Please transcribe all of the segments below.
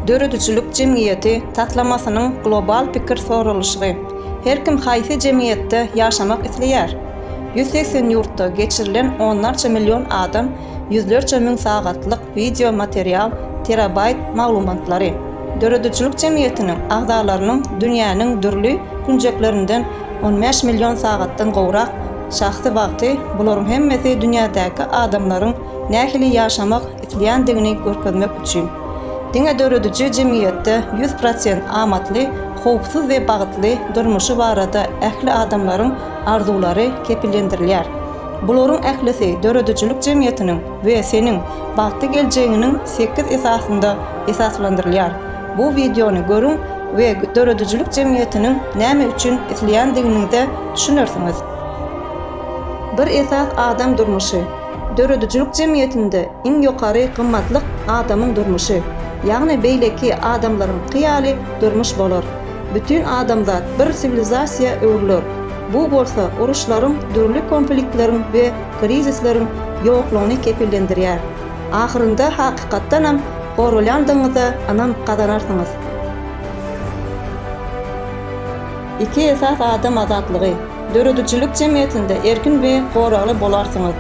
Döredijilik jemgyýeti taslamasynyň global pikir soralyşygy, Her kim haýsy jemgyýetde ýaşamak isleýär? Ýüz segsen ýurtda geçirilen onlarça million adam ýüzlerçe müň sagatlyk wideo material terabaýt maglumatlary Döredijilik jemgyýetiniň agzalarynyň dünýäniň dürli künjeklerinden on bäş million sagatdan gowrak şahsy wagty bularyň hemmesi dünýädäki adamlaryň nähili ýaşamak isleýändigini görkezmek üçin. Diňe dörediji jemgyýetde ýüz prosent amatly, howpsuz we bagtly durmuşy barada ähli adamlaryň arzuwlary kepillendirilýär. Bularyň ählisi döredijilik jemgyýetiniň we seniň bagtly geljegiňiniň sekiz esasynda esaslandyrylýar. Bu wideony görüň we döredijilik jemgyýetiniň näme üçin isleýändiginiňize düşünersiňiz. Bir esas adam durmuşy. Döredijilik jemgyýetinde iň ýokary gymmatlyk adamyň durmuşy, ýagny beýleki adamlaryňky ýaly durmuş bolar. Bütin adamzat bir siwilizasiýa öwrüler. Bu bolsa uruşlaryň, dürli konfliktleriň we krizisleriň ýoklugyny kepillendirýär. Ahyrynda hakykatdanam goralýandygyňyza ynam gazanarsyňyz. Iki esas adam azatlygy, Döredijilik jemgyýetinde erkin we goragly bolarsyňyz.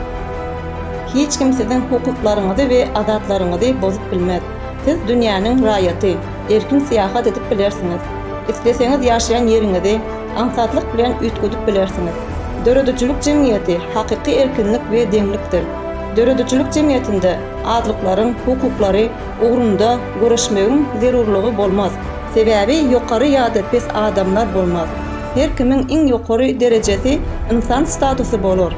Hiç kim siziň hukuklaryňyzy we adatlaryňyzy bozup bilmez. Siz dünýäniň raýaty, erkin syýahat edip bilersiňiz. Isleseňiz ýaşaýan ýeriňizi aňsatlyk bilen üýtgedip bilersiňiz. Döredijilik jemgyýeti hakyky erkinlik we deňlikdir. Döredijilik jemgyýetinde azlyklaryň hukuklary ugrunda göreşmegiň zerurlygy bolmaz. Sebäbi ýokary ýa-da pes adamlar bolmaz. Her kimiň iň ýokary derejesi ynsan statusy bolar.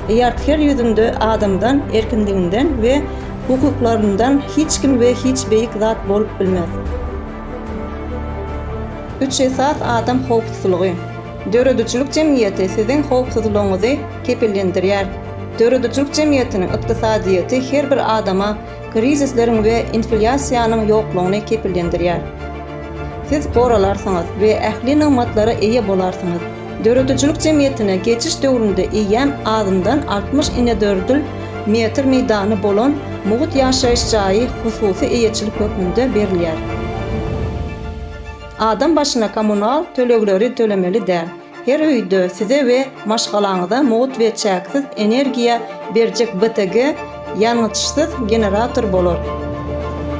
Ýart her ýüzünde adamdan, erkinliginden we hukuklaryndan hiç kim we hiç beýik zat bolup bilmez. Üç esas adam howpsuzlygy. Döredijilik jemgyýeti siziň howpsuzlygyňyzy kepillendirýär. Döredijilik jemgyýetiniň ykdysadyýeti her bir adama, krizisleriň we inflýasiýanyň ýoklugyny kepillendirýär. Siz goralarsyňyz we ähli nygmatlara eýe bolarsyňyz. Döredijilik jemgyýetine geçiş döwründe eýýäm azyndan altmyş inedördül metr meýdany bolan mugt ýaşaýyş jaýy hususy eýeçilik hökmünde berilýär. Adam başyna kommunal tölegleri tölemeli däl. Her öýde size we maşgalaňyza mugt we çäksiz energiýa berjek BTG ýangyçsyz generator bolar.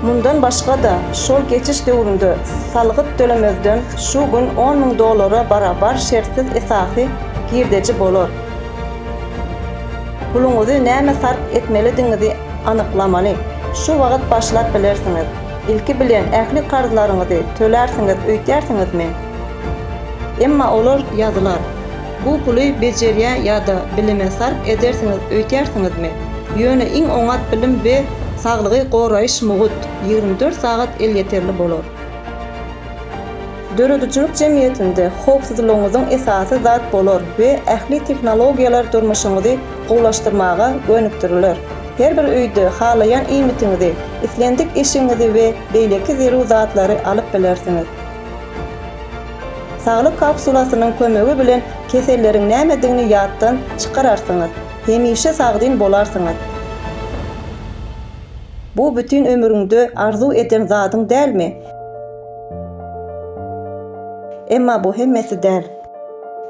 Mundan başga-da, şol geçiş döwründe salgyt tölemezden şu gün on müň dollara barabar şertsiz esasy girdeji bolar. Puluňyzy nämä sarp etmelidigiňizi anyklamaly. Şu wagt başlap bilersiňiz. Ilki bilen ähli karzlaryňyzy tölärsiňiz öýdýärsiňizmi? Emma olar ýazylar. Bu puly bejerýä ýa-da bilime sarp edersiňiz öýtýärsiňizmi? Ýöne iň oňat bilim we saglygy goraýyş mugut ýigrimi dört sagat elýeterli bolar. Döredijilik jemgyýetinde howpsuzlygyňyzyň esasy zat bolar we ähli tehnologiýalar durmuşyňyzy gowulaşdyrmaga gönükdiriler. Her bir öýde halaýan iýmitiňizi, islendik eşigiňizi we beýleki zerur zatlary alyp bilersiňiz. Saglyk kapsulasynyň kömegi bilen keselleriň nämedigini ýatdan çykararsyňyz, hemişe sagdyn bolarsyňyz. Bu bütin ömrüňde arzuw eden zadyň dälmi? Emma bu hemmesi däl.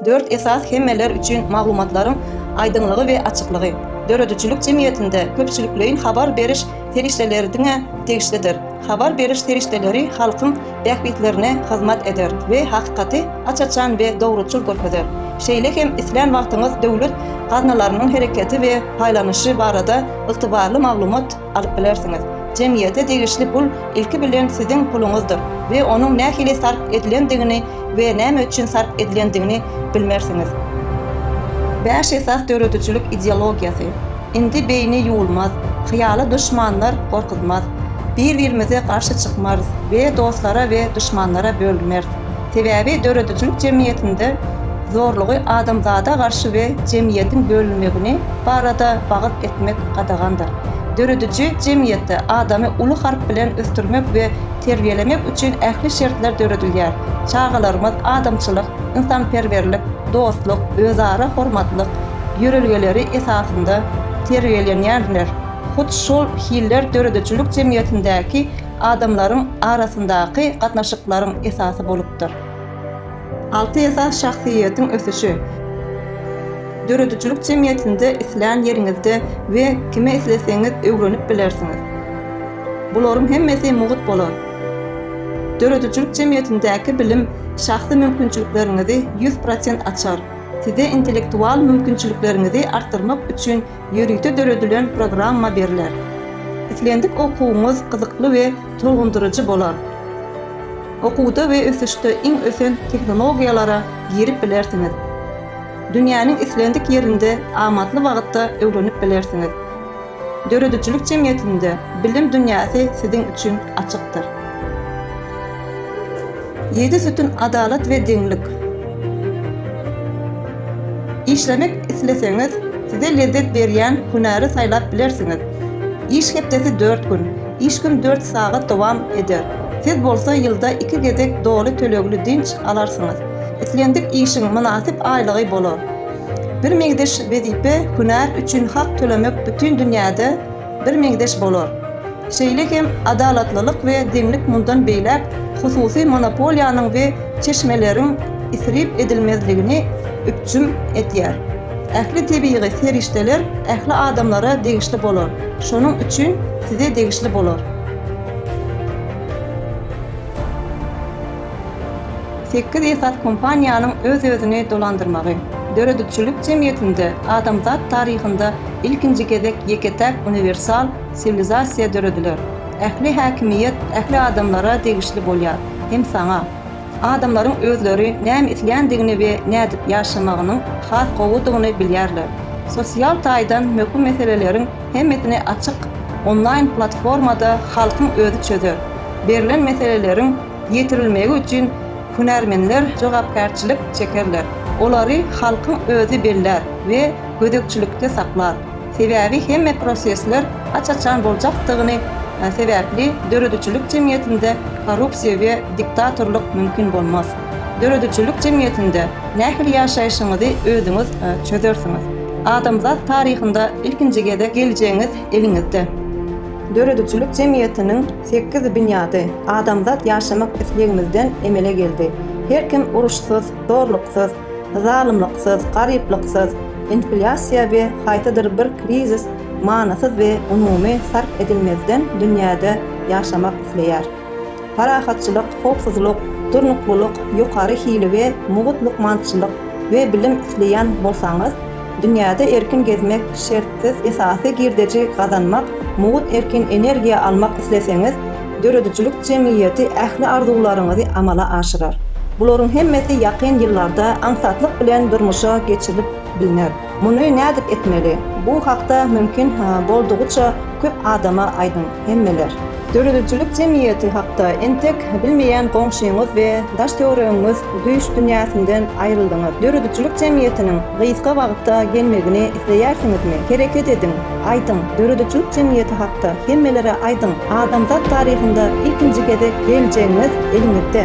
Dört esas hemmeler üçin maglumatlaryň aýdyňlygy we açyklygy. Döredijilik jemgyýetinde köpçülikleýin habar beriş serişdeleri diňe degişlidir. Habar beriş serişdeleri halkyň bähbitlerine hyzmat eder we hakykaty aç-açan we dogruçyl görkezer. Şeýle hem islän wagtyňyz döwlet gaznalarynyň hereketi we paýlanyşy barada ygtybarly maglumat alyp bilersiňiz. Jemgyýete degişli pul ilki bilen siziň puluňyzdyr we onuň nähili sarp edilendigini we näme üçin sarp edilendigini bilmersiňiz. Bäş esas döredijilik ideologiýasy. Indi beýni ýuwulmaz, hyýaly duşmanlar gorkuzmaz. Bir-birimize garşy çykmarys we dostlara we duşmanlara bölünmeris. Sebäbi döredijilik jemgyýetinde zorlugy adamzada garşy we jemgyýetiň bölünmegini barada wagyz etmek gadagandyr. Dörediji jemgyýetde adamy uly harp bilen ösdürmek we terbiýelemek üçin ähli şertler döredilýär, çagalarymyz adamçylyk, ynsanperwerlik, dostluk, özara hormatlyk ýörelgeleri esasynda terbiýelenýärler, hut şol hiller döredijilik jemgyýetindäki adamlaryň arasyndaky gatnaşyklaryň esasy bolupdyr. Alty esas şahsyýetiň ösüşi. Döredijilik jemgyýetinde islän ýeriňizde we kimi isleseňiz öwrenip bilersiňiz. Bularyň hemmesi mugt bolar. Döredijilik jemgyýetindäki bilim şahsy mümkinçilikleriňizi ýüz prosent açar, size intellektual mümkinçilikleriňizi artdyrmak üçin Ýörite döredilen programma berler. Islendik okuwyňyz gyzykly we tolgundyryjy bolar. Okuwda we ösüşde iň ösen tehnologiýalara girip bilersiňiz. Dünýäniň islendik ýerinde amatly wagtda öwrenip bilersiňiz. Döredijilik jemgyýetinde bilim dünýäsi siziň üçin açykdyr. Ýedi sütün adalat we deňlik. Işlemek isleseňiz, size lezzet berýän hünäri saýlap bilersiňiz. Iş hepdesi dört gün, iş gün dört sagat dowam eder. Siz bolsa ýylda iki gezek doly tölegli dynç alarsyňyz. Islendik işiň mynasyp aýlygy bolar. Birmeňzeş wezipe hünär üçin hak tölemek bütin dünýäde Bir meňzeş bolar. Şeýle hem adalatlylyk we deňlik mundan beýläk hususy monopoliýanyň we çeşmeleriň isrip edilmezligini üpjün edýär. Ähli tebigy serişdeler ähli adamlara degişli bolar, şonuň üçin size degişli bolar. Sekiz esas kompaniýanyň öz-özüni dolandyrmagy. Döredijilik jemgyýetinde adamzat taryhynda ilkinji gezek ýeke-täk uniwersal siwilizasiýa dörediler. Ähli häkimiýet ähli adamlara degişli bolýar, hem saňa. Adamlaryň özleri näme isländigini we nädip ýaşamagynyň has gowudygyny bilýärler. Sosial taýdan möhüm meseleleriň hemmesini açyk onlaýn platformada halkyň özi çözer. Berlen meseleleriň. ýetirilmegi üçin hünärmenler jogapkärçilik çekerler, olary halkyň özi bellär we gözegçilikde saklar, sebäbi hemme prosesler aç-açan boljakdygyny sebäpli döredijilik jemgyýetinde korrupsiýa we diktatorlyk mümkin bolmaz. Döredijilik jemgyýetinde nähili ýaşaýşyňyzy özüňiz çözersiňiz. Adamzat taryhynda ilkinji gezek geljegiňiz eliňizde. Döredijilik jemgyýetiniň Sekiz binýady adamzat ýaşamak islegimizden emele geldi. Her kim uruşsyz, zorluksyz, zalymlyksyz, garyplyksyz, inflýasiýa we haýsydyr bir krizis manysyz we umumy sarp edilmezden dünýäde ýaşamak isleýär. Parahatçylyk, howpsuzlyk, durnuklylyk, ýokary hili we mugt lukmançylyk we bilim isleýän bolsaňyz, Dünýäde erkin gezmek, şertsiz esasy girdeji gazanmak, mugt erkin energiýa almak isleseňiz, döredijilik jemgyýeti ähli arzuwlaryňyzy amala aşyrar. Bularyň hemmesi ýakyn ýyllarda aňsatlyk bilen durmuşa geçirilip bilner. Muny nädip etmeli? Bu hakda mümkin boldugyça Köp adama aýdyň, hemmeler. Döredijilik jemgyýeti hakda entek bilmeýän goňşyňyz we daş-töweregiňiz düýş dünýäsinden aýryldyňyz. Döredijilik jemgyýetiniň gysga wagtda gelmegini isleýärsiňizmi? Hereket ediň, aýdyň, döredijilik jemgyýeti hakda hemmelere aýdyň, adamzat taryhynda ilkinji gezek geljegiňiz eliňizde.